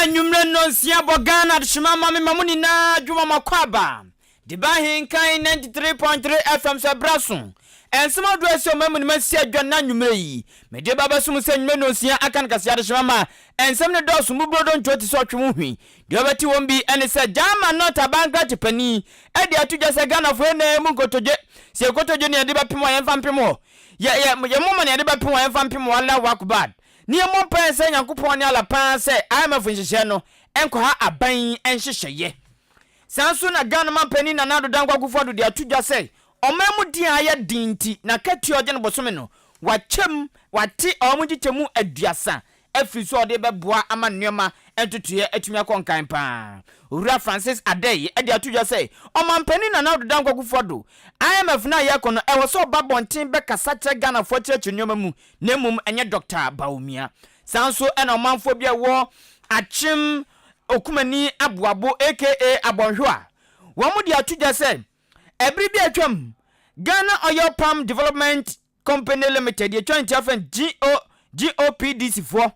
Anwummere nnɔnsia bɔ Ghana adehyema ma me ma mo nyinaa dwuma ma kɔ aba de ba ahenkan 93.3 FM so ɛberɛ aso nsɛm ahodoɔ ɛsɛ ɔma mu no masi adwa na anwummere yi mede ba bɛso mo sɛ anwummere nnɔnsia aka no kaseɛ adehyema ma nsɛm no dɔɔso mmuburodo ntoo te sɛ ɔtwe wo hwi Deɛ ɔbɛte wɔn bi ne sɛ German North abankrate panin de ato dwa sɛ Ghanafoɔ yɛ nnɛɛ mu nkotodwe, sɛ yɛkotodwe na yɛde bɛpem a yɛmfa mpem hɔ, yɛ yɛ yɛ moma na yɛde bɛpem a yɛmfa mpem hɔ Allahu Akbar na yɛmmɔ mpaeɛ nsrɛ Nyankopɔn ne Allah paa sɛ IMF nhyehyɛɛ no nkɔha aban yi nhyehyɛeɛ. Saa nso na Ghana man panin Nana Addo Dankwa Akufo-Addo de ato dwa sɛ ɔman mu den a ayɛ den nti n'akatua a ɔgye no bosome no wakyɛm wate ɔwɔ mu nkyekyɛmu aduasa afiri so a ɔde bɛboa ama nneɛma ntotoeɛ atumi akɔ nkan pa ara. Owura Francis Adei de ato dwa sɛ, Ɔmanpanin Nana Addo Dankwa Akufo-Addo, IMF no a yɛrekɔ no, ɛwɔ sɛ ɔba abɔnten bɛkasa kyerɛ Ghanafoɔ akyerɛkyerɛ nneɛma mu na mmom ɛnyɛ Dɔkta Bawumia. Saa nso na ɔmanfoɔ bi a ɛwɔ Akyem Okumani Aboabo aka Abɔnhwew a wɔde ato dwa sɛ, ɛbere bi a atwam Ghana Oil Palm Development, Company Limited yɛ twa ntua fɛn GO, GOPDC foɔ.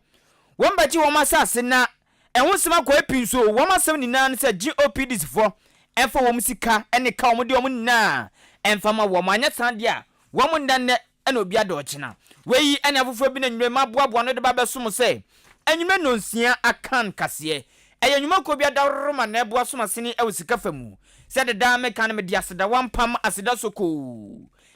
Wɔn bɛgye wɔn asaase na ɛho nsɛm akɔ apii nso wɔn asɛm nyinaa ne sɛ GOPDC foɔ ɛmfa wɔn sika ne ka wɔn de wɔn nyinaa ɛmfa ma wɔn anyɛ saa deɛ a wɔn nna nnɛ na obi ada ɔkyena. Wei yi ne afoforɔ bi na nnwuma yi maboaboa ano de ba abɛso mo sɛ anwummerɛ nnɔnsia akan kaseɛ. Ɛyɛ nnwuma kuo bi adaworoma na ɛboa som asene wɔ sika fa mu. Sɛde daa meka no mede aseda wampam aseda sokoo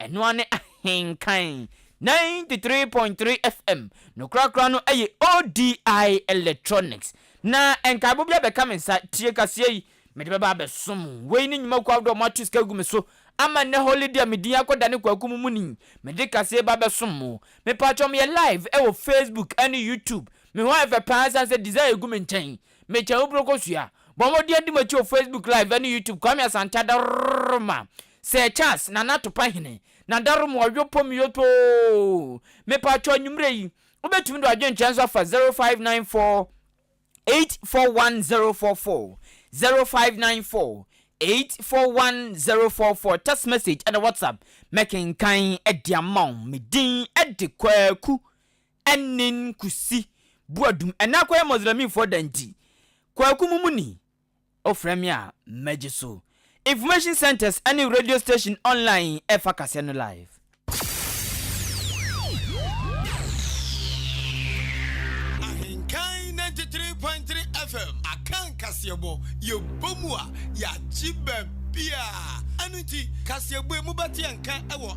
Ɛno ara ne Ahenkan ninety three point three FM no korakora no ɛyɛ ODI Electronics na nkaebɔ bi abɛka me nsa tie kaseɛ yi mede bɛba abɛsom wo wei ne nnwuma kuo ahodoɔ a moato sika agu me so ama nnɛ holiday a me din akɔdane kwaku mu muni mede kaseɛ ba abɛsom mo mepaakyɛw meyɛ live ɛwɔ Facebook ɛne YouTube me ho ayɛ fɛ paa ɛsiane sɛ design gu me nkyɛn Mekyɛ wo bro kosua. Bɔ mmɔden adi m'akyi wɔ Facebook live ɛne YouTube Kwame Asantah Daroma Sir Charles Nana Atopahene na Daroma Ɔyɔpɔ Miyotoo Mepatwɔ anwumerɛ yi wobɛtumi de w'adwenkyerɛ nso afa 0594841044 0594841044 Text message ɛne WhatsApp mɛkenkan de ama wo Me din de Kwaku Ɛnnen Kusi, Buadum, ɛnɛ akɔyɛ Muslimfoɔ da nti, Kwaku Mumuni, wofrɛ me a, mɛgye so. Information centres ne radio station online ɛfa kaseɛ no live. Ahenkan ninety three point three FM, Akan kaseɛbɔ, yɛbɔ mu a, yɛagye baabiara. Ɛno nti, kaseɛbɔ yi mobɛte yɛn nka wɔ.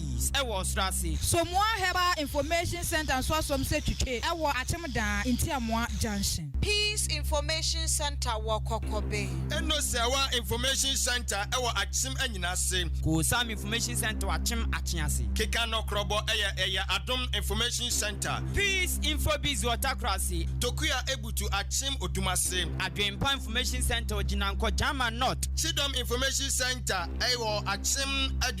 Paradise wɔ ɔsoro ase. Somoa Herbal Information Centre nso asom sɛ twitwe wɔ Akyem Daa, Ntiamoa Junction. Peace Information Centre wɔ Kɔkɔbe. Eno Sewa Information Centre wɔ Akyem Anyina ase. Koosam Information Centre wɔ Akyem Akye ase. Keka no Krɔbɔ yɛ ɛyɛ Adom Information Centre. Peace Info Biz wɔ Takora ase. Tokua Ebutu Akyem Odum ase. Adwempa Information Centre wɔ Gyinankɔ, Gyama North. Kyidɔm Information Centre wɔ Akyem Adum.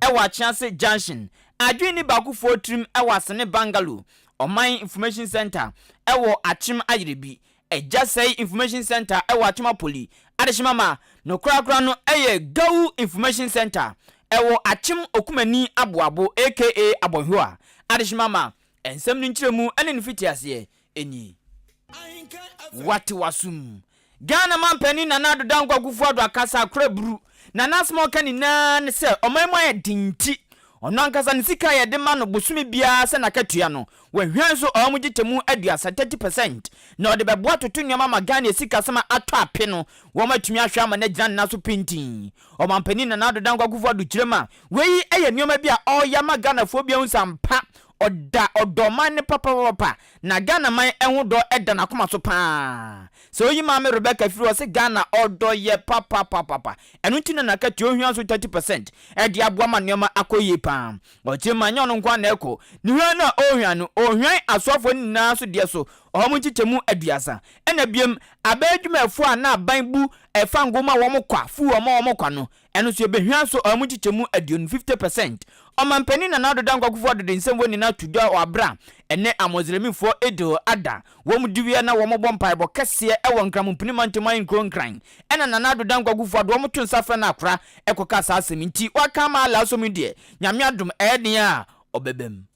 wɔ Akyinase Junction, Adwinni Baakofoɔ tirim wɔ Asene Bungalow, Ɔman Information Centre wɔ Akyem Ayerɛbi, Agya Sɛi Information Centre wɔ Akyem Apoli, Adehyema ma no korakora no yɛ Gawu Information Centre wɔ Akyem Okumani Aboabo aka Abɔnhwa, Adehyema ma nsɛm no nkyerɛmu ne ne fitiaseɛ ni. Wate w'asom. Ghana manpanin Nana Addo Dankwa Akufo-Addo akasa akora buru na n'asɛm a ɔka nyinaa ne sɛ ɔman mu ayɛ den nti ɔno ankasa ne sika a yɛde ma no bosome biara sɛ n'akatua no wahwian so ɔwɔ mu gyekyɛmu aduasa, 30 percent, na ɔde bɛboa toto nneɛma ma Ghana asikasɛm a atɔ ape no wɔn atumi ahwɛ ama no agyina ne nan so pintinn. Ɔmanpanin Nana Addo Dankwa Akufo-Addo kyerɛ mu a wei yɛ nneɛma bi a ɔreyɛ ama Ghanafoɔ bi ahu sɛ ampa Ɔda ɔdɔ man no papapapa na Ghana man ɛho dɔ da nakoma so paa sɛ oyi maame Rebecca firi hɔ sɛ Ghana ɔdɔ yɛ papapapapa ɛno nti na nakatua ohia nso 30 percent ɛde aboa ma nnoɔma akɔ yie paa ɔkye ma nyɛ ɔno nko ara na ɛkɔ ne hwan no a ɔhwan no ɔhwan asoafoɔ no nyinaa nso deɛ so wɔn nkyekyɛmu aduasa ɛna biom abɛn adwumayɛfoɔ a na aban bu ɛfango ma wɔn kwa fuu wɔn a wɔn kwa no Ɛno nso yɛbɛhia so ɔha mu nkyekyɛmu aduonu, 50 percent. Ɔmanpanin Nana Addo Dankwa Kufuor Addo de nsɛm wei ne no ato dwa wɔ aberɛ a ɛnnɛ Amoslemifoɔ Eid ada wɔn dewia na wɔbɔ mpaebɔ kɛseɛ wɔ Nkramompini Mantam ahenkuro Nkran ɛna Nana Addo Dankwa Kufuor Addo wɔto nsa frɛ no akora kɔka saa asɛm yi nti waka ama Allah so me deɛ Nyame adom ɛyɛ den a ɔbɛbam.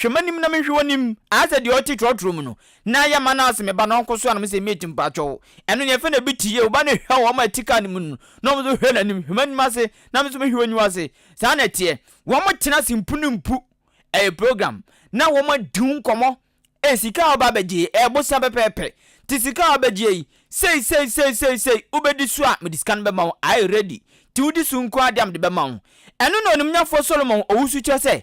Hwɛ m'anim na menhwɛ w'anim. Ayɛ sɛ deɛ ɔte trɔtrɔ mu no. Na yɛ ma no ase me ba na ɔnko so a na mese mate mpakyɛw. Ɛno neɛ ɛfɛ na ɛbi te yie wo ba no hwɛ wɔn a ɛte car no mu no na wɔn nso hwɛ n'anim hwɛ m'anim ase na me nso mehwɛ w'aniwa ase saa na ɛteɛ wɔn tena ase mpu ne mpu ɛyɛ program na wɔn adi ho nkɔmɔ ee sika a ɔba abɛgye ɛyɛ bosia pɛpɛɛpɛ te sika a ɔbɛgye yi sei sei sei sei sei wobɛdi so a mede sika no bɛma wo ayɛ ready te wodi so nko adeɛ a mede bɛma wo ɛno na onimnyafoɔ Solomon ɔwusu kyerɛ sɛ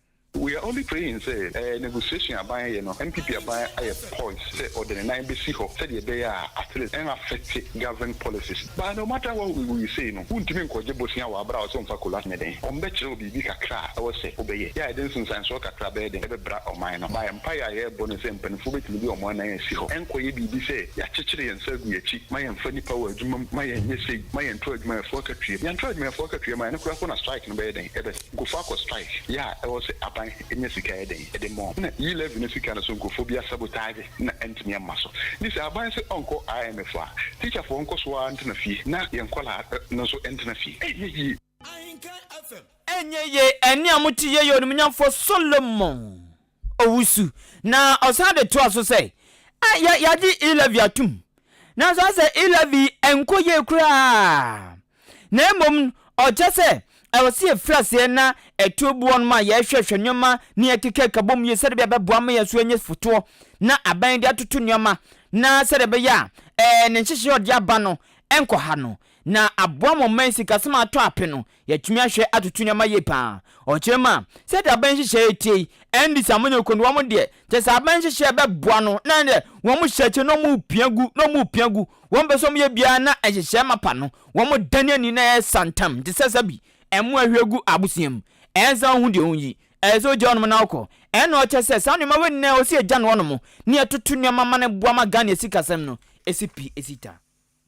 We are only praying sɛ negotiation a aban yɛ no NPP aban ayɛ poised sɛ ɔde ne nan bɛsi hɔ sɛdeɛ ɛbɛyɛ a at least ɛn affecte government policies but no matter what we will say no wontumi nkɔgye bosea wɔ abra ɔsɛ ɔmfa kolat ne dɛn ɔm bɛkyerɛ wo biribi kakra a ɛwɔ sɛ wobɛyɛ yɛ a yɛde nsensansoɔ kakra bɛyɛ dɛn ɛbɛbra ɔman no by mpaeɛ a yɛɛbɔ ne sɛ mpaninfoɔ bɛtumi de ɔmo anan asi hɔ ɛnkɔyɛ biribi sɛ yɛakyekyere yɛn nsa agu yɛakyi ma yɛnfa nnipa wɔ adwuma mu ma yɛnyɛ sei ma yɛnto adwumayɛfoɔ akatua yɛnto adwumayɛfoɔ akatua ma ɛno koraa mpo na strike no bɛyɛ dɛn ɛbɛ. Nkurɔfoɔ akɔ strike yɛ a ɛwɔ sɛ aban nya sika yɛ dɛn de mɔ na yi levy no sika no so nkurɔfoɔ bi asabotage na antumi amma so nti sɛ aban se ɔnkɔ IMF a teacherfoɔ nkɔ so ara ntena fie na yɛn nkwadaa no nso ntena fie ɛnyɛ yie. Ahenkan FM. Ɛnyɛ yie ɛne a mote yɛyɛ onimunyamfoɔ Solomon. owusu. Na ɔsan de toa so sɛ, A, yɛ, yɛagye Ilavi atom. Nanso asɛ Ilavi nkɔ yie koraa. Na mmom no, ɔkyɛ sɛ ɛwɔ sɛ yɛfiri aseɛ na ɛto boɔ no ma yɛhwɛhwɛ nneɛma na yɛkeka ka bom yie sɛdeɛ bia ɛbɛboa ama yɛn so anya fotoɔ na abɛn de atoto nneɛma na sɛdeɛ ɛbɛyɛ a ɛɛ ne nhyehyɛeɛ a ɔde aba no nkɔha no na aboa ma ɔman sikasɛm atɔ ape no. Yɛatumi ahwɛ atoto nneɛma yie paa. Ɔkyerɛ mu a, sɛdeɛ aban nhyehyɛeɛ te yi, ɛnde sɛ wɔnyɛ kuro no wɔn deɛ, kyerɛ sɛ aban nhyehyɛeɛ bɛboa no na ɛnneɛ wɔn hyɛ akyire na wɔrepia gu na wɔrepia gu. Wɔmpɛ sɛ wɔyɛ biara na nhyehyɛeɛ mapa no, wɔdane ani na ɛyɛ santam te sɛ sɛbi mmoa ahwie gu abosea mu. Ɛyɛ sɛ wohu deɛ wɔn yi, ɛyɛ sɛ wogya hɔnom na wokɔ. Ɛyɛ na ɔkyɛ sɛ saa nneɛma wei nyinaa ɛwɔ sɛ yɛgya no hɔnom na yɛtoto nneɛma ma no boa ma Ghana sikasɛm no ɛsi pi ɛsi ta.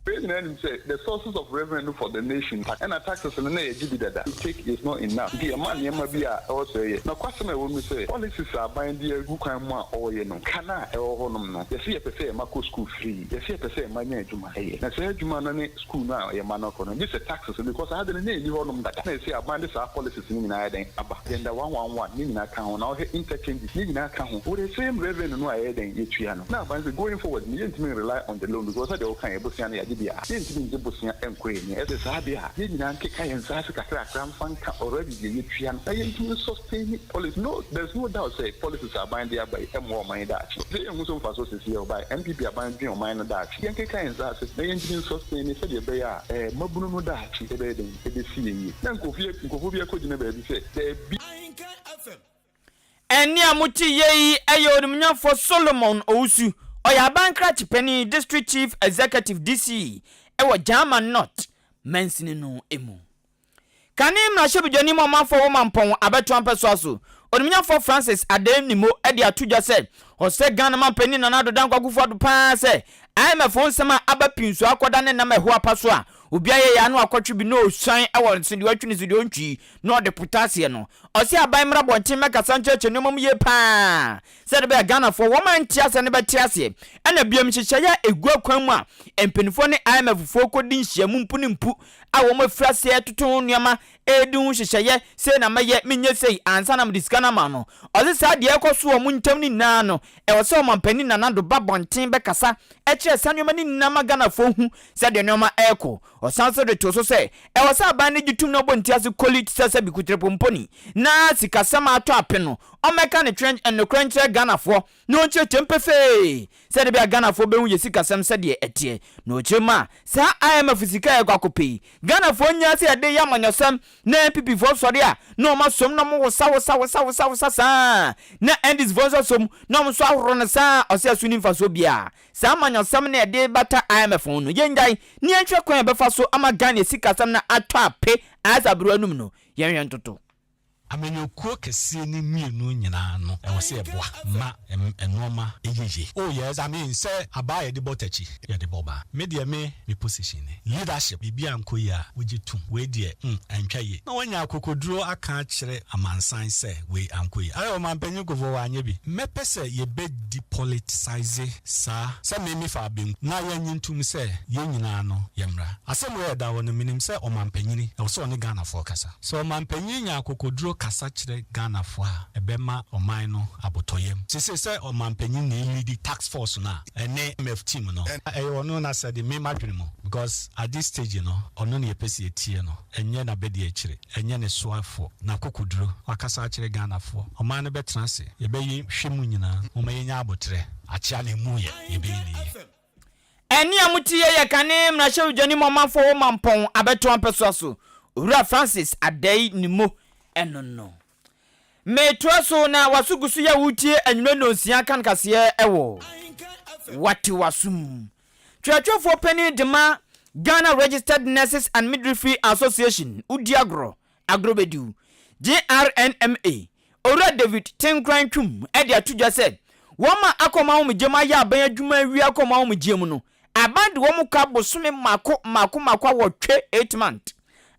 Yɛn nyinaa nim sɛ the sources of revenue for the nation tax ɛna taxes no na yɛgye bi dada we take is not enough nti yɛma nneɛma bi a ɛwɔ sɛ yɛyɛ. Nokwasɛm a ɛwɔ mu ne sɛ policies a aban de agu kwan mu a ɔyɛ no ka no a ɛwɔ hɔ nom no yɛse yɛpɛ sɛ yɛn mma kɔ school free yɛse yɛpɛ sɛ yɛn mma nya adwuma ɛyɛ na saa adwuma no ne school no a yɛn mma no kɔ no gyesɛ taxes no because ade no na ɛnni hɔ nom dada na ɛse aban de saa policies no nyinaa ayɛ dɛn aba agenda one one one ne nyinaa ka ho na wohwɛ interchange ne nyinaa ka ho for the same revenue no a yɛyɛ dɛn yɛtua no na aba no sɛ going forward no yɛntumi n rely on the loan because sɛdeɛ wo kaeɛ bosea no yɛagye deɛ a yɛntumi ngye bosea nkɔ yɛn anim ɛsɛ saa deɛ a yɛn nyinaa nkeka yɛn nsa ase kakrakra mfa nka already deɛ yɛtua no na yɛntumi n sustain policy no there's no doubt sɛ policies a aban de aba yi ɛmmoa ɔman yi daakye ɛsɛ sɛ yɛhu so mfasoɔ seseɛ ɔbaeɛ NPP aban dwen ɔman no daakye yɛnkeka yɛn nsa ase na yɛntumi n sustain no sɛdeɛ ɛbɛyɛ a ɛɛ mmabunu no daakye ɛbɛyɛ dɛn ɛbɛsi yɛn yie na nkurɔfoɔ bi akɔgyina baabi sɛ daabi. Ahinkan FM Nea mote yɛ yi yɛ Onimnyamfo Solomon Owusu. Ɔyɛ aban krakye panyin, District Chief Executive, DC, wɔ German North mansini no mu. Kane mmarahyɛbedwani ma ɔmanfoɔ wɔ Mampɔn abɛtoa mpɛsoa so, Onimnyamfoɔ Francis Adey Nimo de ato dwa sɛ ɔsɛ Ghana manpanin Nana Addo Dankwa Akufo-Addo pa ara sɛ IMF ho nsɛm a aba pii nso akɔda ne nam ɛho apa so a obiara yɛ yɛ ano akɔtwe bi na ɔresuan wɔ nso deɛ ɔtwe no so deɛ ɔntwi na ɔde pota aseɛ no, ɔse aban mmra abɔnten mmɛkasa nkyerɛkyerɛ nnoɔma mu yie pa ara sɛdeɛ ɛbɛyɛ Ghanafoɔ wɔn a nte aseɛ no bɛte aseɛ, ɛna biom nhyehyɛeɛ a ɛgu akwan mu a mpaninfoɔ ne IMF foɔ kɔdi nhyiamu mpo no mpu a wɔn afiri aseɛ retoto ho nnoɔma redi ho nhyehyɛeɛ, sei na mɛyɛ, menyɛ sei ansa na mede sika no ama no. Ɔse saa deɛ ɛrekɔ so wɔ wɔn ntam no nyinaa no ɛwɔ sɛ Ɔmanpanin Nana Addo ba abɔnten bɛkasa kyerɛ saa nnoɔma no nyinaa ma Ghanafoɔ hu sɛdeɛ nnoɔma rekɔ. Ɔsan nso de too so sɛ, ɛwɔ sɛ aban no gye tum na ɔbɔ ntease koli te sɛ sɛ bikutirepɔmpɔni na sikasɛm a atɔ ape no, ɔmmɛka ne twerɛ nokorɛ nkyerɛ Ghanafoɔ na ɔnkyerɛkyerɛm pefee sɛdeɛ ɛbɛyɛ a Ghanafoɔ bɛhu yɛ sikasɛm sɛdeɛ ɛteɛ na ɔkyerɛ mu a saa IMF sika a yɛkɔ akɔpɛ yi Ghanafoɔ nyaa sɛ yɛde reyɛ amanyɔsɛm na NPPfoɔ sɔre a na wɔn asom na wɔn wosawosawosawosawosa saa na NDCfoɔ nso asom na wɔn nso ahoro no saa a ɔsɛ ɛso nni mfasoɔ biara Saa amanyɔsɛm no a ɛde bata IMF ho no, yɛnnyae na yɛnhwɛ kwan a yɛbɛfa so ama Ghana asikasɛm no atɔ ape ayɛ sɛ abere anum no. Yɛnhwɛ ntoto. Amanyɔkuo kɛseɛ no mmienu nyinaa no, ɛwɔ sɛ yɛboa ma nnoɔma yɛ yie. Oh yes, I mean sɛ abaa yɛde bɔ takyi, yɛde bɔ baa. Me deɛ me me position ni, leadership biribi ankɔ yie a wogye tom, wei deɛ hmm antwa yie, na wanya akokoduro aka akyerɛ amansan sɛ wei ankɔ yie. Ayɛ ɔmanpanyin Kufuor wanyɛ bi. Mɛpɛ sɛ yɛbɛ. depoliticise saa sɛ me me faa benkum na yɛ nye ntum sɛ yɛn nyinaa no yɛ mmra. Asɛm wei ɛda hɔ no menim sɛ ɔmanpanyini ɛwɔ sɛ ɔne Ghanafoɔ kasa. Sɛ ɔmanpanyini nya akokoduro kasa kyerɛ Ghanafoɔ a ɛbɛma ɔman no abotɔyam. Sesei sɛ ɔmanpanyini na ɛlidi task force no a ɛne IMF team no a ɛyɛ ɔno nasɛde me madwene mu because at this stage no ɔno na yɛpɛ sɛ yɛtie no ɛnyɛ nabadiakyire. Ɛnyɛ ne soafoɔ. N'akokoduro. Wakasa akyerɛ Ghanafoɔ. Ɔman no bɛtena ase. Yɛbɛyi hwɛ mu nyinaa. Momma yɛnya aboterɛ. Akyea na ɛmu yɛ. Yɛbɛyi no yie. Ɛnne a mote yɛ yɛ kane mmarahyɛwdwani ma ɔmanfoɔ wɔ Mampɔn abɛtoa mpɛsoa so, Owura Francis Addae Nimmo ɛno no. Metoa so na waso gu so yɛ wo tie anwummerɛ nnɔnsia kan kaseɛ wɔ Wate W'asom. Twerɛtwerɛfoɔ panin dema Ghana Registered Nurses and Midwifery Association wodi agorɔ, agorɔbɛdiw, GRNMA, Owura David Tenkoran Twum de ato dwa sɛ wɔma akɔm ahomegyeɛ mu ayɛ aban adwuma awie akɔm ahomegyeɛ mu no Aban de wɔn ka bosome mako mako mako awɔtwe, eight months.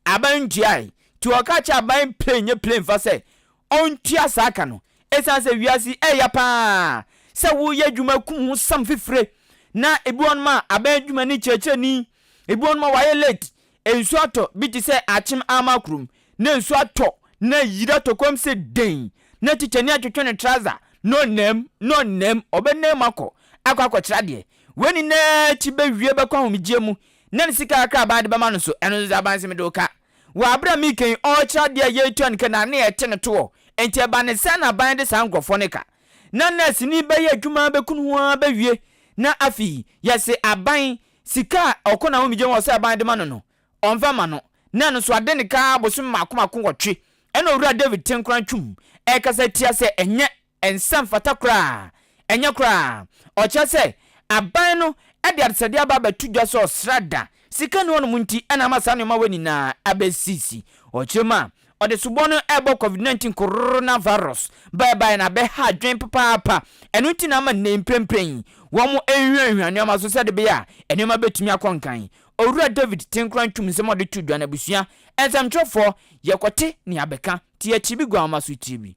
Aban ntuae, nti wɔka kyerɛ aban plane nyɛ plane fa sɛ ɔntua saa ka no. Ɛsiane sɛ wiase yi ɛɛya pa ara sɛ wo yɛ adwuma kum ho sam fifire na ebi wɔ nom a aban adwuma ni kyerɛkyerɛni, ebi wɔ nom a wayɛ late, Nsu atɔ bi te sɛ akyem ama kurom na nsu atɔ na yiri atɔ komm sɛ dɛn na tikyani atwetwe ne trouser na ɔnam na ɔnam ɔbɛnam akɔ akɔ akɔkyere adeɛ wei nyinaa akyi bɛwie bɛkɔ ahomegyeɛ mu na ne sika kakra a baa de bɛma no so ɛno nso sɛ abanse mede wo ka wɔ abere a meeka yi ɔrekyere adeɛ a yɛretua ne ka na ne yɛte ne toɔ nti ɛba ne sɛn na aban de saa nkorɔfoɔ no ka na nɛɛseni bɛyɛ adwuma bɛku no ho ara bɛwie na afei yɛse aban Sika a Ɔko Naomi gye wɔ Ɔsɛe Aban de ma no no, ɔmfa mma no, na ɛno nso ade ne ka ara bosome mmaako mmaako nwɔtwe. Ɛnna Owura David te nkoran twom, rekasa tia sɛ ɛnyɛ nsa mfata koraa. Ɛnyɛ koraa. Ɔkyerɛ sɛ aban no de adesrɛdeɛ aba abɛto dwa sɛ ɔsrɛ ada. Sika nni hɔnom nti na ama saa nneɛma wei nyinaa abɛsisi. Ɔkyerɛ mu a, Ɔde subɔ no rebɔ covid nineteen coronavirus bae bae na abɛha adwene papaapa. Ɛno nti na ama nnɛ yi mprempren wɔrehwiahwia nneɛma so sɛde ɛbɛyɛ a nneɛma betumi akɔ nkan. Owura David Tenkura ntum nsɛm a ɔde to dwa no abusua nsɛmtwerɛfoɔ, Yɛkɔte nea bɛka, te akyiri bi guamma so akyiri bi.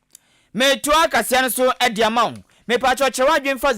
Metoa kaseɛ no so de ama wo. Mepakyɛw kyerɛ w'adwene fa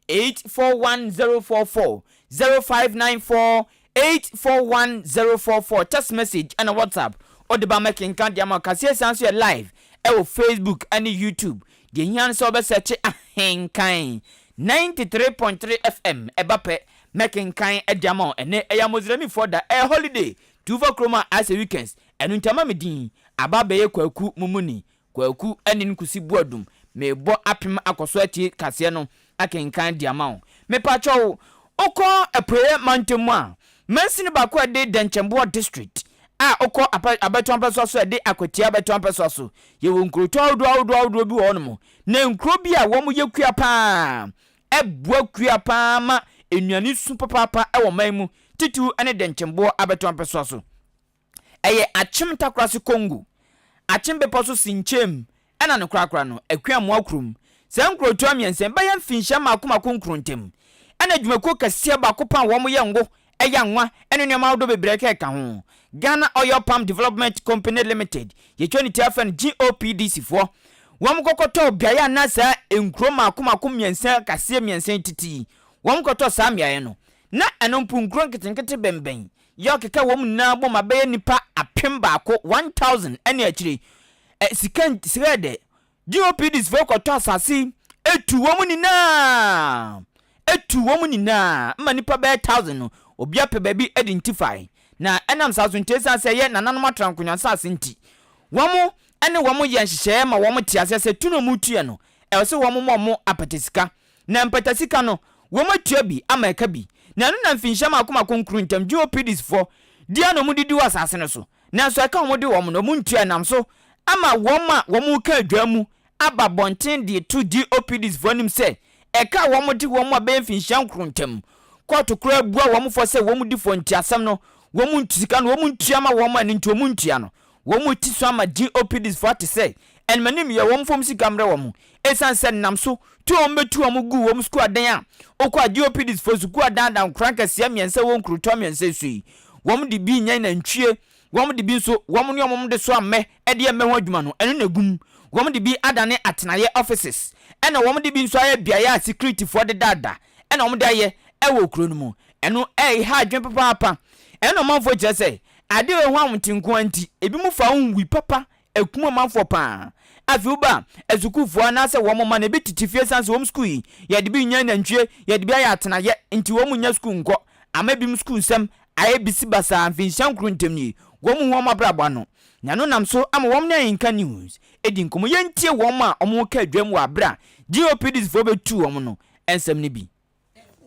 0594841044, 0594841044, text message ɛna WhatsApp wode ba mɛkenka de ama wo. Kaseɛ san so yɛ live ɛwɔ Facebook ɛne YouTube. Deɛ ɛhia no sɛ wobɛ sɛkye Ahenkan 93.3 FM ɛba pɛ mɛkenkan de ama wo. Ɛnɛ ɛyɛ Amozramifoɔ da, ɛyɛ holiday, tu fa kurom a ayɛ sɛ weekends. Ɛno nti ama me din aba abɛyɛ Kwaku mumuni, Kwaku Anin Kusi Boadum, merebɔ apem akɔ so atie kaseɛ no akenkan de ama wo. Mepakyɛw, wokɔ Apueɛ Mantam mu a, mansini baako a ɛde Dɛnkyɛmboɔ District a wokɔ apa, abɛto ampɛsoa so a ɛde Akwatia abɛto ampɛsoa so. Yɛwɔ nkurotɔ ahodoɔ ahodoɔ ahodoɔ bi wɔ hɔnom, na nkuro bi a wɔyɛ kua pa ara, ɛboa kua pa ara ma nnuane su papaapa wɔ man mu, titiriw ne Dɛnkyɛmboɔ abɛto ampɛsoa so. Ɛyɛ Akyem Takorase Kongu, Akyem Bepɔ so Sinkyem ɛna no korakora no Akuamoa kurom. Saa nkurotoa mmiɛnsa yi bɛyɛ mfinhyia mmaako mmaako nkron ntam ɛna adwumakuo kɛseɛ baako paa a wɔn yɛ ngo, ɛya nwa ɛne nneɛma ahodoɔ bebree kɛka ho. Ghana Oil Palm Development Company Limited, yɛtwa ne ti ara frɛ no GOPDC foɔ, wɔn kɔkɔtɔɔ beaeɛ a na saa nkuro mmaako mmaako mmiɛnsa kaseɛ mmiɛnsa yi tete yi, wɔn kɔtɔɔ saa mmeaeɛ no. Na ɛno mpo nkuro nketenkete bɛnbɛn Yɛ ɔkeka wɔn nyinaa bɔ ma bɛyɛ nnipa apem baako, 1,000, ɛne akyire ɛ, sika nti, srɛɛ dɛ, GOPDs foɔ kɔtɔ asase yi, etuu wɔn nyinaa, etuu wɔn nyinaa, ma nnipa bɛyɛ thousand no, obia pɛ baabi de ntifae, na ɛnam saa so nti, ɛsiane sɛ ɛyɛ nananom atrankonnwa nsase nti, wɔn ne wɔn yɛ nhyehyɛɛ ma wɔn te aseɛ sɛ tu na wɔretu yɛ no, ɛwɔ sɛ wɔn ma wɔn apɛtɛsika Na mpatasika no, wɔatua bi ama ɛka bi. Na ɛno na mfinhyia mako mako nkron ntam Geopidisfoɔ di a na wɔdidi wɔ asase no so, nanso ɛka a wɔde wɔn no, wɔntua ɛnam so ama wɔn a wɔka adwaa mu aba abɔnten de reto Geopidisfoɔ anim sɛ ɛka a wɔde wɔn a bɛyɛ mfinhyia nkron ntam. Kɔɔto koraa bua wɔn fɔ sɛ wɔn di fɔ nti asɛm no wɔn ntua sika no wɔntua ma wɔn a ɛno nti wɔntua no. Wɔn ti so ama GOPDsfo ate sɛ animanim yɛ wɔn fam sika mmerɛ wɔn ɛsiane sɛ nam so tu a wɔbɛtu wɔn guu wɔn sukuu adan a wokɔ a GOPDsfo sukuu adan da nkuraa nkɛseɛ mmiɛnsa wɔ nkurotoɔ mmiɛnsa yi so yi. Wɔn de bi nyɛn nantwie, wɔn de bi nso wɔn ne wɔn de soa mmɛ de yɛ mmɛ ho adwuma no ɛno na ɛgu mu, wɔn de bi adane atenaeɛ, offices, ɛna wɔn de bi nso ayɛ beaeɛ a sikiritifoɔ de daadaa. ɛna wɔn de ayɛ ɛwɔ kuro no mu ɛno ɛyɛ ha adwene papaapa ɛna ɔmanfoɔ kyerɛ sɛ ade wɔ ɛho ahomte nkoa nti ebi mu fa ho nwi papa ɛkum ɔmanfoɔ paa afei wo ba asukuufoɔ anaasɛ wɔn mma no ebi tete fie san sɛ wɔn sukuu yi yɛde bi nyɛ nantwie yɛde bi ayɛ atenayɛ nti wɔn nyɛ sukuu nkɔ ama ebi mu sukuu nsɛm ayɛ bisi basaa mfinhyia nkoro ntam nie wɔn hu wɔn abrabɔ ano na ɛno nam so ama wɔn ne ayinka news edi nkɔmɔ yɛntie wɔn a wɔn ka adwam wɔ abere a GOPDs foɔ bɛtuu wɔn no nsɛm no bi.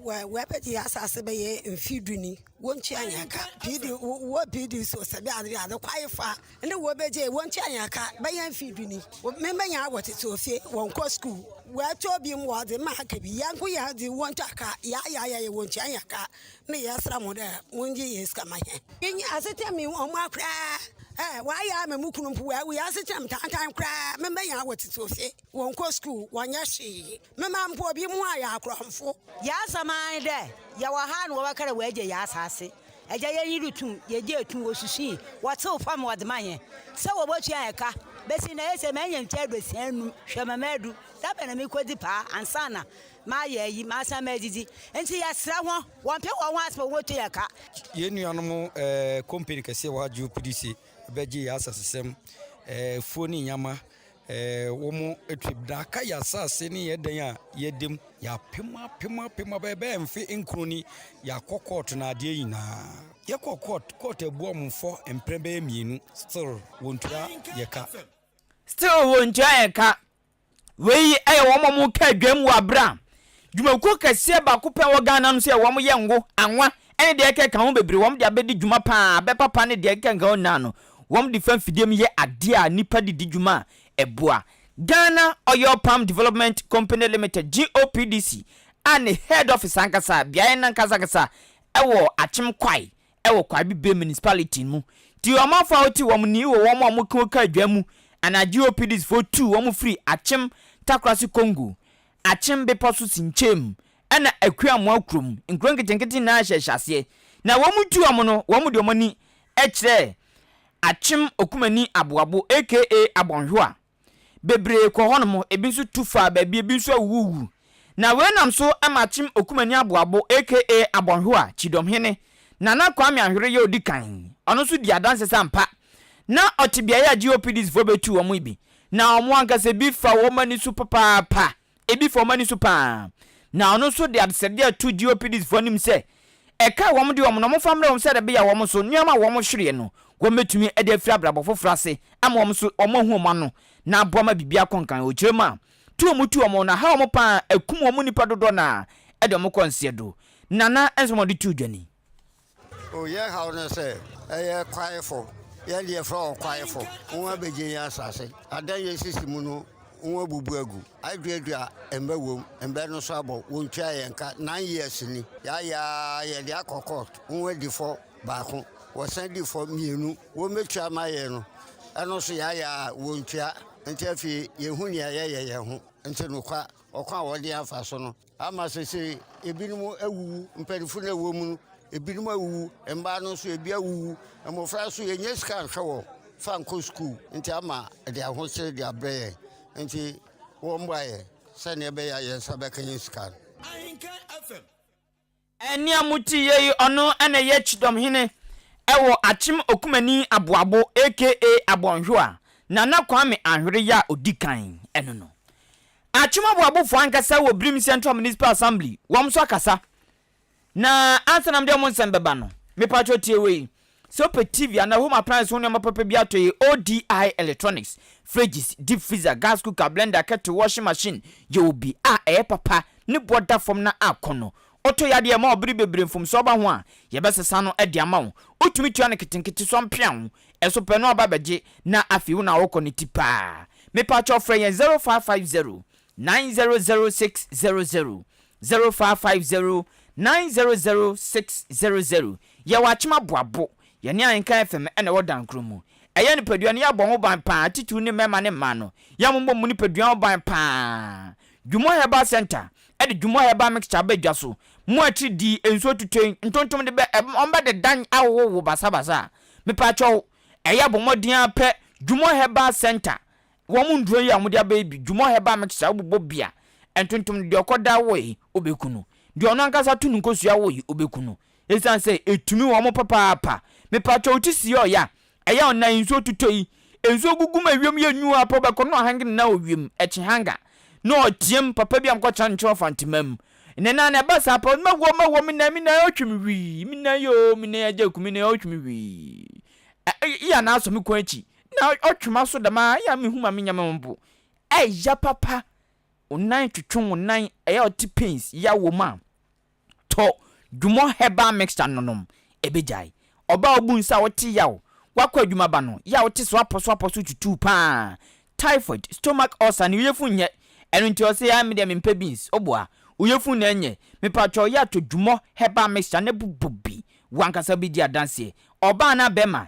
Wɔ wɔabɛgye yɛn asase bɛyɛ mfe du ni, wontua yɛn ka. PD, wɔ PD so sɛ bɛ ade ade kwae fa ne wɔbɛgye wontua yɛn ka bɛyɛ mfe du ni. Mɛmɛnya wɔtete ofie, wɔnkɔ sukuu. Wɔatɔ bi mu wɔde ma aka bi. Yɛn nko yɛn de wɔntua ka. Yɛayɛ ayɛ wontua yɛn ka. Ne yɛsrɛ mo dɛ mongye yɛn sika ma yɛn. Yɛnya asetena mu ɔma koraa. Wɔayɛ ama me kunu mpo wawu. Yɛn asetena mu tantan koraa. Mɛmɛnya wɔtete ofie. Wɔnnkɔ skuul, wɔnnyɛ hwee. Me mba mpo, binom ho ayɛ akorɔmfo. Dza asɛm ara nye dɛ, yɛwɔ ha na wɔbɛka dɛ woegye hɛn asaase. Agya, yɛnye do tum, yegyee tum, wosusui, wɔtseew famu ma wɔdze maa hɛn sɛ wobotua hɛn ka. Besi ndɛ, ese menya mfe eduosia enum, hwɛ ma medu, dza bɛn na merekodzi paa ansaana mayɛ eyi, masan medzidzi? Ntsi yɛserɛ hɔn, wɔmpe hɔnho ase ma wobotua hɛn ka. Hɛn nuanom kompene kɛse a wɔagye opdc bɛgyee hɛn asasesɛm, efuo ne nyama. Ɛɛ, wɔn atwam daaka yɛ asase ne yɛ dan a yɛda mu. Yɛapem apem apem apem ɛbɛyɛ mfe nkron ni yɛakɔ kɔɔto na adeɛ nyinaa. Yɛkɔ kɔɔt, kɔɔt abu wɔn fɔ mprɛ bɛyɛ mmienu. Still, wɔntua yɛ ka. Still, wɔntua yɛ ka. Wei yɛ wɔn a wɔka dwam wɔ aberɛ a dwumakuo kɛseɛ baako pɛ a ɛwɔ Ghana no nso yɛ wɔyɛ ngo, anwa ne deɛ ɛkeka ho bebree. Wɔn de abɛdi dwuma pa ara, abɛpapa ne deɛ ɛkeka ho nyinaa no, Wɔn de fa mfidie mu yɛ adeɛ a nnipa de di dwuma a ɛboa. Ghana Oil Palm Development Company Limited, GOPDC, a ne head office ankasa, beaeɛ no ankasa ankasa, wɔ Akyem Kwae wɔ Kwae Bibre Municipality mu. Nti ɔmanfoɔ a wɔte wɔn ni wɔ wɔn a wɔka ka adwa mu anaa GOPDC foɔ tuu wɔn firii Akyem Takorase Kongo, Akyem Bepɔ so Sinkyem na Akuamoa kurom, nkuro nketenkete nyinaa hyɛ hyɛaseɛ, na wɔn tuu wɔn no, wɔn de wɔn ani kyerɛɛ Akyem Okumani Aboabo aka Abɔnhwewa. Bebree kɔɔ hɔnom, ebi nso tu faa baabi, ebi nso awuwuwu. Na wei nam so ma Akyem Okumani Aboabo aka Abɔnhwewa, Kyidɔmhene, Nana Kwame Ahwere yɛ ɔdi kan, ɔno nso di adanse sɛ ampa na ɔte beaeɛ a GOPDs foɔ bɛtuu wɔn yi bi, na wɔn ankasa bi fa wɔn ani so papaapa. Ebi fa wɔn ani so paa, na ɔno nso de adesrɛdeɛ reto GOPDisfoɔ anim sɛ ɛka a wɔde wɔn no wɔmfa mmrɛ wɔn sɛdeɛ ɛbɛyɛ a wɔn nso nneɛma a wɔhwereɛ no wɔbɛtumi de afiri abrabɔ foforɔ ase ama wɔn nso wɔahu wɔn ano na aboa ma biribi akɔ nkan. Ɔkyerɛm a tu wɔn tu wɔn no aha wɔn paa, akum wɔn nnipa dodoɔ no ara de wɔn kɔ nseɛdo. Nana nso ma wɔde too dwa ni. O yɛn haw ne sɛ ɛyɛ kwaefo, yɛn deɛ yɛfrɛ wɔn kwaefo, wɔn abɛgye yɛn asase. Adan yɛn sisi mu no, wɔn abubu agu. Aduadua mbɛ wom, mbɛ no so abɔ, wɔntua yɛn ka. Nine years ni, yɛayɛ ara, yɛde akɔ court, wɔn adi fɔ baako, wɔsan di fɔ mmienu, wɔmmɛtua ama yɛn no, ɛno nso yɛayɛ ara, wɔntua. Nti afei yɛhu nea yɛyɛ yɛn ho. Nti nokwa, ɔkwan a wɔde yɛn afa so no, Ama seesei ebinom awuwu, mpanyimfo na ɛwɔ mu no, ebinom awuwu, mmaa no nso ebi awuwu, mmofra nso yɛnyɛ sika nhwɛ wɔn fa nkɔ sukuu nti ama ɛde ahokyere de abrɛ yɛn. Nti wɔmmɔ ayɛ sɛnea ɛbɛyɛ a yɛn nsa bɛka yɛn sika no. Ahinkan FM. Ɛnne a mote yɛ yi, ɔno na ɛyɛ Kyidɔmhene wɔ Akyem Okumani Aboabo aka Abɔnhwewa, Nana Kwame Anhwere yɛ a ɔdi kan no no. Akyem Aboabofoɔ ankasa wɔ Birim Central Municipal Assembly, wɔn nso akasa. Na ansa na mede wɔn nsɛm bɛba no, mepakyɛ tie wei. Sɛ wopɛ TV anaa home appliance ho nneɛma papa bi atɔ yɛ ODI Electronics, fridges, deep freezer, gas cooker, blender, kettle, washing machine, yɛwɔ bi a ɛyɛ papa, ne boɔ da fam na akɔ no. Ɔtɔ yɛ adeɛ a ɛma wo bere bebree mfomsoɔ ba ho a, yɛbɛsesa no de ama wo. Wotumi tua no nketenkete so ampia wo, ɛso pɛ no aba bɛgye na afei wo na wokɔ ne ti paa. Mepaakyɛw frɛ yɛn 0550 900600 Zero five five zero nine zero zero six zero zero Yɛwɔ Akyem Aboabo, yɛne Ahenka FM na ɛwɔ Dankro mu. Ɛyɛ nipadua no yɛabɔ ho ban paa titiriw ne mmarima ne mmaa no, yɛabobɔ mu nipadua ho ban paa. Dwumɔ Herbal Centre de Dwumɔ Herbal Mixture aba dwa so. Mo akyiri di nsuo tutoe ntontom de bɛ ɔmbɛ de dan ahohoro wo basabasa a, mepaakyɛw ɛyɛ bɔ mmɔden ara pɛ Dwumɔ Herbal Centre Wɔ mo nduro yi a wɔde aba yi bi dwumɔ herbal mixture a wobobɔ bi a ntontom no deɛ ɔkɔ da wɔ yi wobɛku no deɛ ɔno ankasa to no nkosua wɔ yi wobɛku no ɛsiane sɛ ɛtumi wɔ mo papaapa mepakyɛw wo ti siɛ ɔya ɛya ɔnan yi nsuo totɔ yi nsuo gugu mu ɛwiem yɛ nyu apɔ bɛkɔ no ɔhange ne nan ɔwiem ɛkye hanga na ɔteam papa bi a mekɔ kyerɛ no nkyerɛ ɔfa ntoma mu ne nan na ɛba saa pɛ mɛwɔ mɛwɔ me nan me nan ɔtwe me wii me nan yoo me nan agya ku me nan ɔtwe me wii ɛyɛ na asɔ me kɔn akyi Na ɔtwe m'aso dɛm ara, eyɛ a mennhu ma mennyɛ mo bo. Ɛyɛ papa, wo nan twetwe wo nan, ɛyɛ a ɔte pains, yaw wɔ mu a, tɔ Dwumɔ herbal mixture nonom, ɛbɛgyae. Ɔbaa a wobu nsa a wote yaw, woakɔ adwuma ba no, yɛ a wote soapɔsoapɔ so tutuu pa ara, typhoid, stomach ulcer ne oyefun nnyɛ, ɛno nti ɔse ae medeɛ mempɛ beans, woboa, oyefun na ɛnyɛ, mepakyɛw yɛ a tɔ Dwumɔ herbal mixture na bobɔ bi, wankasa bɛdi adanseɛ. Ɔbaa anaa bɛɛma,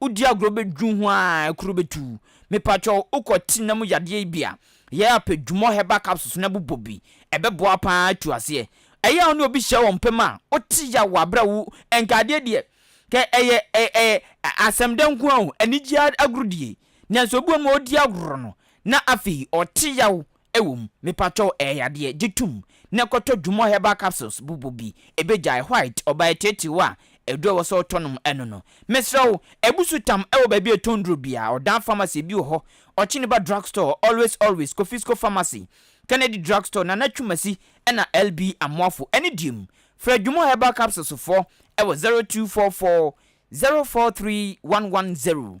Wodi agorɔ bɛduru ho a kuro bɛtu. Mepakyɛw wokɔ tiri nam yadeɛ yi bi a, yɛ a pɛ Jumor herbal capsules na bobɔ bi. Ɛbɛboa pa ara atu aseɛ. Ɛyɛ a wo ne obi hyɛ wɔ mpam a wote yaw wɔ aberɛ a wo Nkaadeɛ deɛ kɛ ɛyɛ ɛ ɛ asɛmdɛ nko ara o, anigyeɛ agorodie. Nanso obi wɔ hɔ nom a ɔdi agorɔ no na afei ɔte yaw Ɛwɔ mu, mepakyɛw ɛyɛ yadeɛ, gye tom na kɔtɔ Dumor Herbal Capsules bobɔ bi, ɛbɛgyae white, ɔbaa atiriatiriw a aduro a ɛwɔ sɛ wotɔ nom ɛno no. Mesrɛ wo, ɛbu so tam ɛwɔ baabi a ɛtɔn nnuro biara, Ɔdan Pharmacy ebi wɔ hɔ, Ɔkyeniba Drug Store, Always Always, Kofisco Pharmacy, Kennedy Drug Store, Nana Twumasi ɛna LB Amoafo ɛne deɛ mu. Frɛ Dumor Herbal Capsules foɔ ɛwɔ 0244 043110.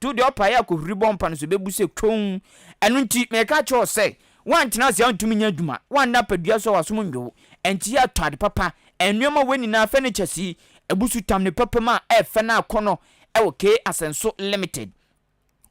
To deɛ ɔpaee a kohuri bɔ mpa no so bɛbu sɛ komm. Ɛno nti, mereka akyerɛ wo sɛ, woantena ase antumi nyɛ adwuma, woanna apadua so a w'asom nnwo wo, enti yɛ atɔ ade papa, nnoɔma wei nyinaa, furnitures yi, abusu tam ne papam a ɛyɛ fɛ no akɔnnɔ wɔ K Asɛnso Limited.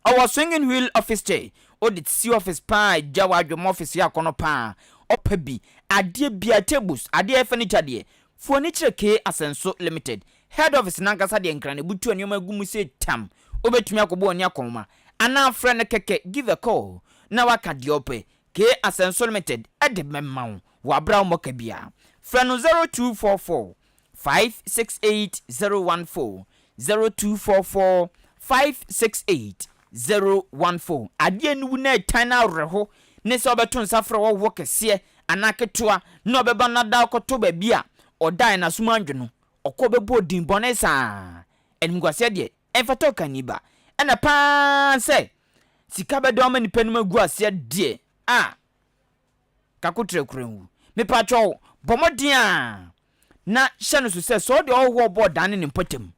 Ɔwɔ swinging wheel office chair, wode tisi office pa a gya w'adwemma office yɛ akɔnnɔ pa a, ɔpa bi, adeɛ biara, tables, adeɛ a ɛyɛ furniture deɛ, Mfonin kyerɛ Kee Asɛnso Limited head office no ankasa deɛ Nkranebutu a nneɛma gu mu sei tam. Wobɛtumi akɔbɔ w'ani akɔnhoma anaa frɛ no kɛkɛ give a call na woaka deɛ wopɛ. Kee Asɛnso Limited de bɛma wo. Wɔabrɛ wo mmɔka biara. Frɛ no 0244 568 014 Zero two four four five six eight zero one four Adeɛ no wu na ɛtan no awerɛho ne sɛ wobɛto nsa frɛ w'ɔhoɔ kɛseɛ anaa ketewa na ɔbɛba na da akɔtɔ baabi a ɔdaeɛ na asom andwo no. Ɔkɔ bɛbɔɔ din bɔne saa. Animguaseɛ deɛ, ɛmfata ɔkani ba. Ɛna pa ara sɛ sika bɛdɔm ama nnipa anim agu aseɛ deɛ a, Kakoterɛ kura nwu. Mepakyɛw, bɔ mmɔden ara na hyɛ no so sɛ sɛ ɔde ɔhɔho a ɔbɔɔ dan ne ne mpɔtam,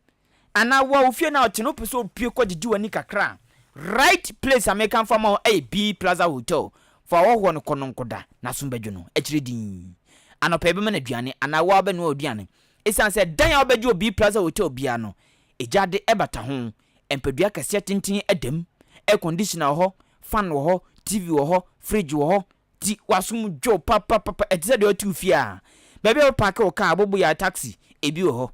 anaa wo a wo fie no a ɔte no wopɛ sɛ opue kɔ gyegye w'ani kakra a, right place a meka mfa mma wo ɛyɛ B Plaza Hotel. Fa ɔhɔhoɔ no kɔ no nkɔda, n'asom bɛdwo no akyire dinn. Anɔpa yɛbɛma no aduane anaa wo ara wobɛnoa w'aduane. Esiane sɛ dan a wobɛgye wɔ B Plaza Hotel biara no, egya de bata ho Mpadua akɛseɛ tenten da mu, air conditioner wɔ hɔ, fan wɔ hɔ, TV wɔ hɔ, fridge wɔ hɔ, nti w'asom dwo papapapa, ɛte sɛ deɛ wote wo fie ara. Baabi a wobɛpaake wo kaa, wobɛbɔ yɛ a taxi, ebi wɔ hɔ.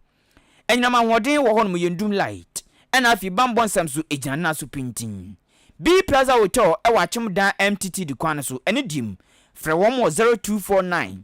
Anyinam ahoɔden wɔ hɔnom, yɛndum light, ɛna afei bammɔ nsɛm so, ɛgyina no nan so pintinn. Bee Plaza Hotel wɔ Akyem Dan MTTD kwan no so, ɛno deɛ mu, frɛ wɔn wɔ 0249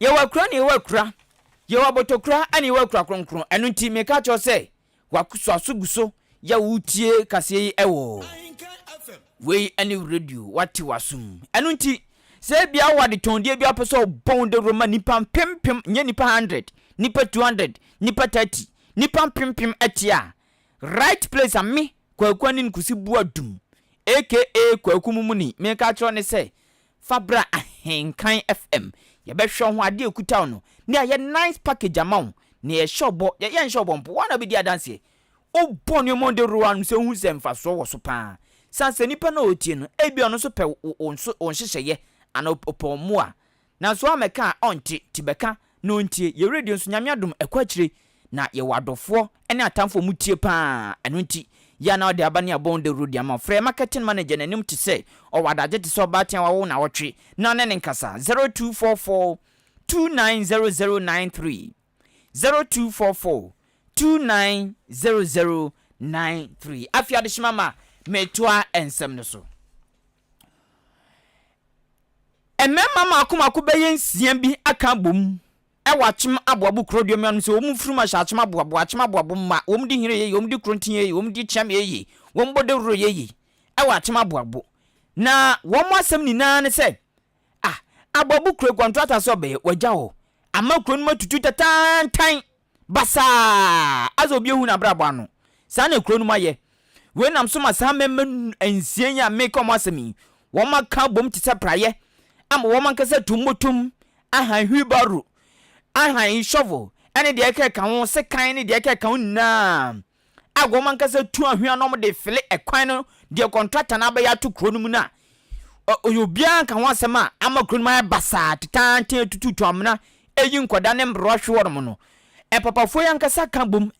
Yehowa kura ne Yehowa kura. Yehowa bɔtɔkura ne Yehowa kura kronkron. Ɛno nti, meka kyerɛ sɛ, wɔasɔ so gu so yɛ wotie kaseɛ yi wɔ wei ne radio, wate w'asom. Ɛno nti, sɛ ebia wɔ adetɔndeɛ bi apɛ sɛ ɔbɔ wo dawuro ma nipa mpempem, nyɛ nipa 100, nipa 200, nipa 30, nipa mpempem ɛte a, right place a me, kwaku anin kusi bua dum, aka kwaku mumuni, meka kyerɛ ne sɛ, Fa bra Ahenkan FM, yɛbɛhwɛ wo ho, adeɛ a ɛkuta wo no, ne ayɛ nice package ama wo, nea yɛhyɛ wo bɔ, yɛyɛ nhyɛ wo bɔ mpo, wo ara na wobɛdi adanseɛ. Wobɔ nneɛma a wode woro w'ano sɛ wohu sɛ mfasoɔ wɔ so pa ara. Sane sɛ nipa no a ɔretie no, ebia ɔno nso pɛ wo wo nso wo nhyehyɛeɛ anaa ɔpɛ wo mmoa. Nanso woammɛka a, ɔnte, nti bɛka. No ntie, yɛ radio nso, Nyame adom ɛkɔ akyire Na yɛwɔ adɔfoɔ ne atamfoɔ ɔmo tie paa Ɛno nti, yɛ a na ɔde aba ne abɔn dawuro de ama wo Frɛ marketing manager n'anim te sɛ ɔwɔ adagye te sɛ ɔbaa tea wawo nawɔtwe na ɔne no nkasa 0244290093 0244290093 Afei adehyema ma metoa nsɛm no so. Mmarima mmaako mmaako bɛyɛ nsia bi aka abom wɔ akyem aboabo korodua mu. Ɛwɔ mu sɛ wɔn mfurum ahyɛ akyem aboabo, akyem aboabo mma. Wɔn de hini yɛ yie, wɔn de koronti yɛ yie, wɔn de kyeam yɛ yie, wɔn bɔ dawuro yɛ yie wɔ akyem aboabo. Na wɔn asɛm nyinaa ne sɛ, ah, aboabo kuro kɔntrata sɛ ɔbɛyɛ, wɔagya hɔ. Ama kuro no mu atutu tantaantan. basaa adze obi ehu n'abrabɔ ano. Saa na kurow no mu ayɛ. Wei nam so ma saa mmarima nsia yi a mereka wɔn asɛm yi, wɔaka abom te sɛ praeɛ ama wɔn ankasa atu mmotom ahan wheelbarrow, ahan shovel, ne deɛ ɛkeka ho, sekan ne deɛ ɛkeka ho nyinaa. a wɔn ankasa tu anhwea na wɔde fele ɛkwan no deɛ kɔntrata no abɛyɛ ato kuro no mu no a, ɔyɛ obiara nka ho asɛm a ama kuro no mu ayɛ basaa tetanten atututu amena ɛyi nkɔda ne mmerewa hwe wɔnom no. Ɛpapafoɔ yi ankasa ka bom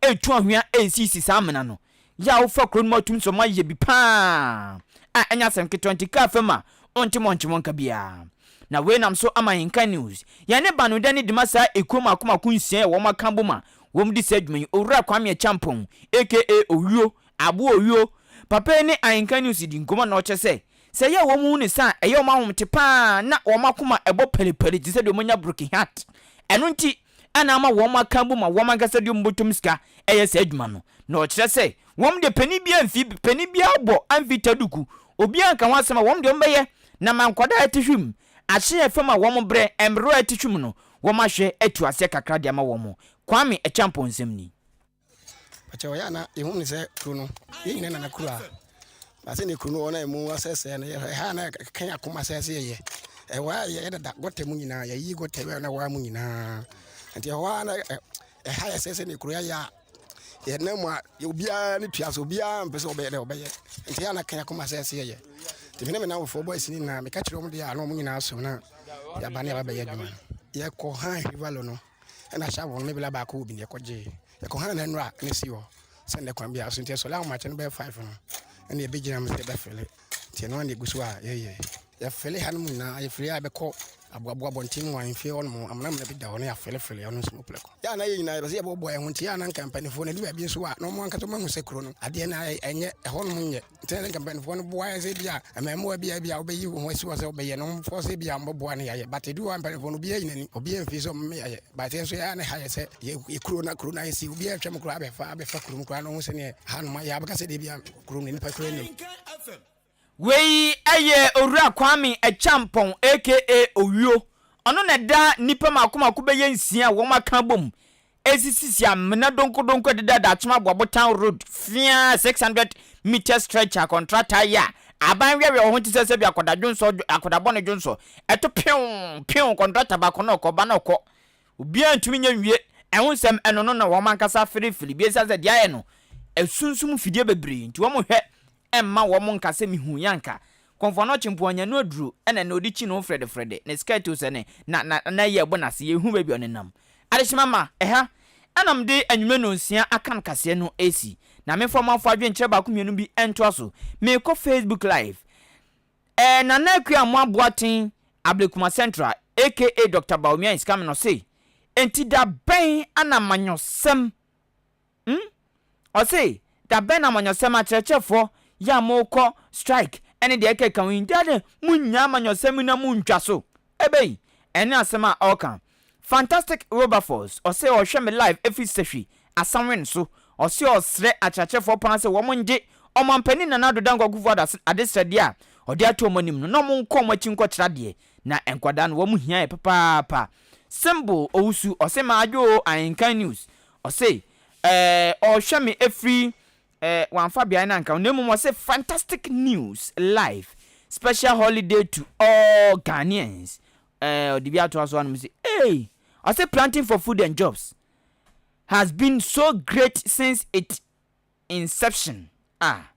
ɛtu anhwea ɛsisi saa amena no. Yɛ a wofa kuro no mu atum so ma yɛ bi paa a ɛnyɛ asɛm ketewa nti kaa fam a ɔnte mɔ nkye mɔ nka biara. Na wei nam so ama Yɛnka News, Yɛne Banu Dani de ma saa ɛkuo mako mako nsia yɛ wɔn aka bom a wɔn di saa dwuma yi, Owura Kwame Acheampong aka Owuo, Aboa Owuo, papa yi ne Ahenka News dii nkɔmmɔ na ɔkyerɛ sɛ, sɛ ɛyɛ a wɔn hu ne sa a, ɛyɛ wɔn ahomte pa ara na wɔn akoma bɔ paripari te sɛ deɛ wɔanya broken heart. Ɛno nti na ama wɔn aka abom a wɔn ankasa de wɔn bɔtɔm sika reyɛ saa adwuma no. Na ɔkyerɛ sɛ, wɔn deɛ panin biara mfi, panin biara bɔ amfi taduku, obiara nka ho asɛm a wɔn deɛ wɔbɛyɛ na ma nkwadaa te hwim Ahyɛ yɛ fam a wɔn brɛ mmerɛw a ɛte twam no, wɔn ahwɛ atu aseɛ kakra de ama wɔn. Kwame Acheampong nsɛm ni. Ɔkyɛ ɔyɛ a na yɛhu no sɛ kuro no yɛn nyina nana kuro a ba sɛdeɛ kuro no wɔ na ɛmu asɛsɛɛ no yɛhwɛ ɛha a na ɛkɛn akoma sɛ sɛ yɛyɛ ɛwɔ a yɛyɛ dada gɔta mu nyinaa yɛyi gɔta wɛ na ɛwɔ a mu nyinaa nti ɛhɔ a na ɛha yɛ sɛ sɛdeɛ kuro yɛayɛ a yɛnam mu a obiara ne tua so obiara mpɛ sɛ ɔbɛyɛ dɛ ɔbɛyɛ nti yɛ anaka akoma sɛ ɛsɛ yɛyɛ nti mene me namfofoɔ bɔ asini nyinaa meka kyerɛ ɔm deɛ a na ɔmo nyinaa so na yɛaba ne yɛbɛbɛyɛ adwuma no yɛkɔ han hivalo no ɛna hyɛ wɔn mebla baako wɔ bi ne yɛkɔ gyee yɛkɔ han na nnora ne si hɔ sɛ nnɛ kwan biara so nti ɛsɔre ahomakyɛ no bɛyɛ five no ɛna yɛbɛgyina mu sɛ yɛbɛfele Nti ɛno ara na ɛgu so a yɛyɛ. Yɛafɛle hanom nyinaa, ayefele a ɛbɛkɔ aboaboa abɔnten mu ahemfie hɔnom, amena amena bi da hɔ na yɛafɛlefɛle ɛno nso mu prɛko. Yɛ a na yɛn nyinaa yɛpɛ sɛ yɛboaboa yɛn ho, nti yɛ a na anka mpanimfoɔ no adu baabi nso a na wɔn ankasa wɔahu sɛ kuro no adeɛ no ara ɛnyɛ, ɛhɔnom nyɛ. Nti na sɛ anka mpanimfoɔ no boa yɛn sɛ ebia mmarimaa bi a ebia wobɛyi wo ho asi hɔ sɛ wobɛyɛ no, wɔmfɔɔse yɛ ebia wɔbɛboa na yɛayɛ. But ɛduru hɔ a mpanimfoɔ no obiara nyi n'ani, obiara mfili sɛ wɔmma yɛayɛ. But yɛn nso yɛ a na ɛha yɛn sɛ yɛ kuro no a kuro no ayɛ sei, obiara retwam koraa abɛfa abɛfa kurom koraa na ɔhu sɛdeɛ hanom ayɛ a wobɛka sɛ deɛ ebia kuro no nnipa hwere no. Wei yɛ Owura Kwame Acheampong aka Owuo, ɔno na ɛda nnipa mako mako bɛyɛ nsia a wɔn aka abom ɛresisisi amena donkɔdonkɔ ɛdeda Dakyema Boabotan Road fea 600 metres stretch a kɔntrata yɛ a aban weawea wɔ ho te sɛ sɛbi akɔda dwonsɔ akɔda bɔne dwonsɔ ɛto pew pew kɔntrata baako na ɔkɔ ba na ɔkɔ Obiara ntumi nyɛ nwie. Ɛho nsɛm, ɛno no na wɔn ankasa fere firi bi esiane sɛ deɛ ayɛ no asunsum mfidie bebree nti wɔn hwɛ mma wɔn nka sɛ mehuu yɛ anka kɔmfoɔ no ɔkye mpo ɔnya no aduro ɛna ɛna ɔde kyi ne ho fredefrede ne skirt o sɛ ne na na na ɛyɛ ɛbɔ n'ase yɛhu baabi a ɔnenam adehyema ma ɛha ɛna mede anwummerɛ nnɔnsia aka no kaseɛ no ɛsi na memfa ɔmanfoɔ adwenkyerɛ baako mmienu bi ɛntoa so merekɔ facebook live Eh Nana Akua Amoah Boateng Ablekuma Central aka Doctor Bawumia is coming ɔse enti da bɛn ana amanyɔsɛm hmm ɔse da bɛn na amanyɔsɛm akyerɛkyerɛfoɔ yi a mo kɔ strike ɛne deɛ ɛkeka ho yi da bɛn mo nnya amanyɔsɛm yi na mo ntwa so ɛbɛyi ɛne asɛm a ɔka Fantastic Wilberforce ɔse ɔhwɛ me live ɛfiri Sahwi, Asawen so. Ɔse ɔsrɛ akyerɛkyerɛfoɔ paa sɛ wɔn ngye Ɔmanpanin Nana Addo Dankwa Akuffo Addo ase adesrɛdeɛ a ɔde ato wɔn anim no na wɔn nkɔ wɔn akyi nkɔ kyerɛ adeɛ na nkwadaa no wɔn hia yɛ papaapa. Symbol Owusu ɔse madwo oo Ahenkan News ɔse ɛɛ ɔhwɛ me ɛfiri ɛɛ wamfa beaeɛ no anka ho na mmom ɔse Fantastic News live Special Holiday to all Ghanaians. Ɛɛ ɔde bi atoa so anom se, Eei! Ɔse Planting for Food and Jobs has been so great since it inception ah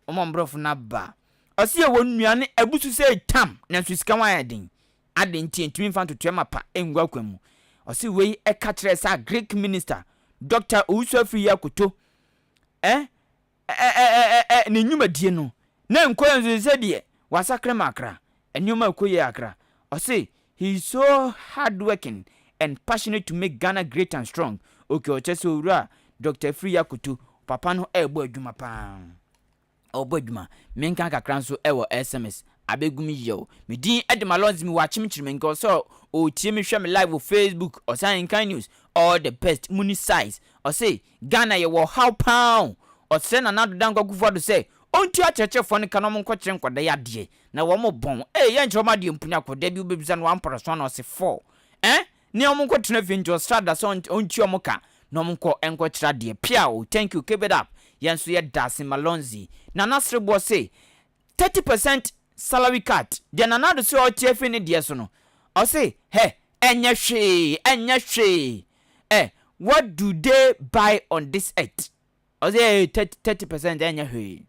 ɔma mborɔfo no aba a ɔse yɛwɔ nnuane abusu sɛ tam nanso sika ho ayɛ den adɛn nti ɛntumi mfa ntotoɛ mapa ɛngu akwan mu ɔse wei ɛka kyerɛɛ sɛ Greek minister Doctor Owusu Afriyie Akoto eh Ɛɛɛɛɛɛ ne nnwumadie no na ɛnkɔ yɛ nso sɛdeɛ wasakra ma akra nneɛma ɛkɔ yie akra ɔse he is so hard working and passionate to make Ghana great and strong ok ɔkyerɛ sɛ owura Doctor Afriyie Akoto papa no ɛɛbɔ adwuma paa ɔɔbɔ adwuma menka kakra nso ɛwɔ sms abɛgu me yie o me din de Malonzy me wɔ akyemkyere me nka ɔsɛ ɔɔtie me hwɛ me live wɔ facebook ɔsan nkan news all the best muni size ɔse Ghana yɛwɔ ɔhaw paa o. Ɔsrɛ Nana Addo Dankwa Akuffo Addo sɛ ɔntua akyerɛkyerɛfoɔ no ka na wɔnkɔkyerɛ nkwadaa yi adeɛ na wɔbɔn. Ee yɛnkyerɛ wɔn adeɛ mpo na kɔ da bi wobɛbisa no wampɔrɔ so ana ɔse fɔɔ eh ne yɛn wɔnkɔtena fie nti ɔsrɛ Ada sɛ ɔntua wɔn ka na wɔnkɔ nkɔkyerɛ adeɛ pia o thank you keep it up yɛn nso yɛda ase Malonzy Nana Sereboɔ se thirty percent salary cut deɛ Nana Addo se ɔreteɛ firi ne deɛ so no ɔse hɛ ɛnyɛ hwee ɛnyɛ hwee ɛ what do they buy on this earth ɔse hɛ thirty thirty percent ɛnyɛ hwee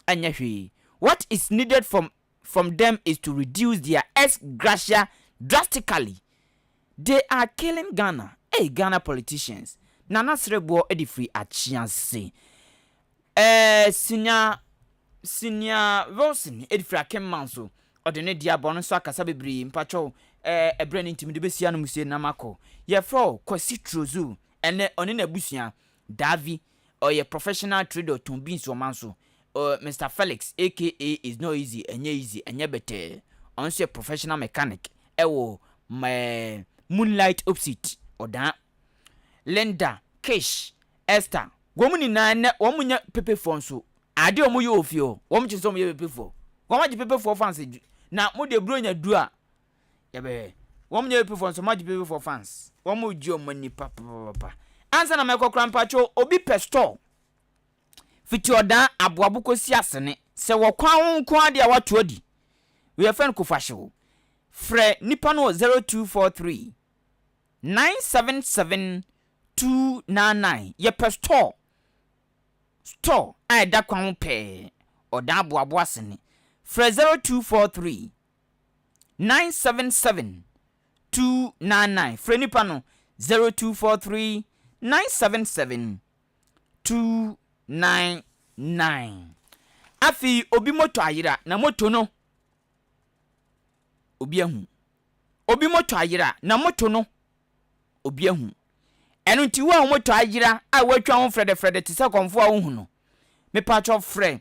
ɛnyɛ hwee what is needed from from them is to reduce their ex gratia drastically They are killing Ghana ei Ghana politicians Nana sereboɔ de firi akyea se eh Senior Senior Wilson de firi Akenman so ɔde ne deɛ abɔ ɔno nso akasa bebree mpakyɛw eh ɛberɛ no nti mede bɛsi anom sie na makɔ Yɛfrɛ wo Kwasi Trozu ɛnɛ ɔne n'abusua Davi ɔyɛ professional trader ɔtɔn beans wɔ man so, ɔ Mister Felix aka is not easy ɛnyɛ easy ɛnyɛ bɛtɛɛ, ɔno nso yɛ professional mechanic ɛwɔ mɛɛ Moonlight Opsit ɔdaa, Linda, Kish, Esther wɔn nyinaa nɛ wɔn nyɛ pepefoɔ nso adeɛ wɔn yɛ wɔ fie hɔ wɔn kyerɛ sɛ wɔn yɛ pepefoɔ wɔn agye pepefoɔ fancy na mo deɛ bronya duru a yɛbɛhwɛ wɔn nyɛ epifoɔ nso much people for fans wɔn mo gye wɔn ani papapapa ansa na mɛkɔ kora mpatsɔ obi pɛ store fiti ɔdan aboabo kɔsi asene sɛ wɔ kwan ho nko ara deɛ wato adi wɔyɛ fɛn kofahyew frɛ nipa no wɔ 0243 977 299 yɛpɛ store store a ɛda kwan ho pɛɛ ɔdan aboabo asene frɛ 0243. nine seven seven two nine nine frɛ nipa no zero two four three nine seven seven two nine nine afei obi moto ayera na moto no obi ahu obi moto ayera na moto no obi ahu ɛno nti wo a wɔtɔ ayera a wɔatwa ho frɛdɛfrɛdɛ te sɛ kɔmfo a wohu no mepatwɔ frɛ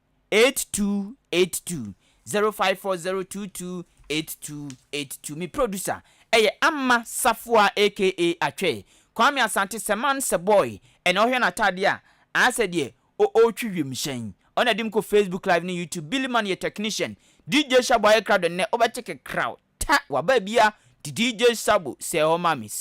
8282 0540228282 Me producer yɛ Amma Safoa aka Atwɛ, Kwame Asante sɛ man sɛ boy ɛna ɔhwɛ n'atadeɛ a ayɛ sɛ deɛ ɔretwi wiemhyɛn ɔna di me kɔ Facebook live ne YouTube Billy Man yɛ technician DJ Shabo ayɛ krado nnɛ wobɛte kekraw ta waba biaa nti DJ Shabo sɛ hɔ ma me.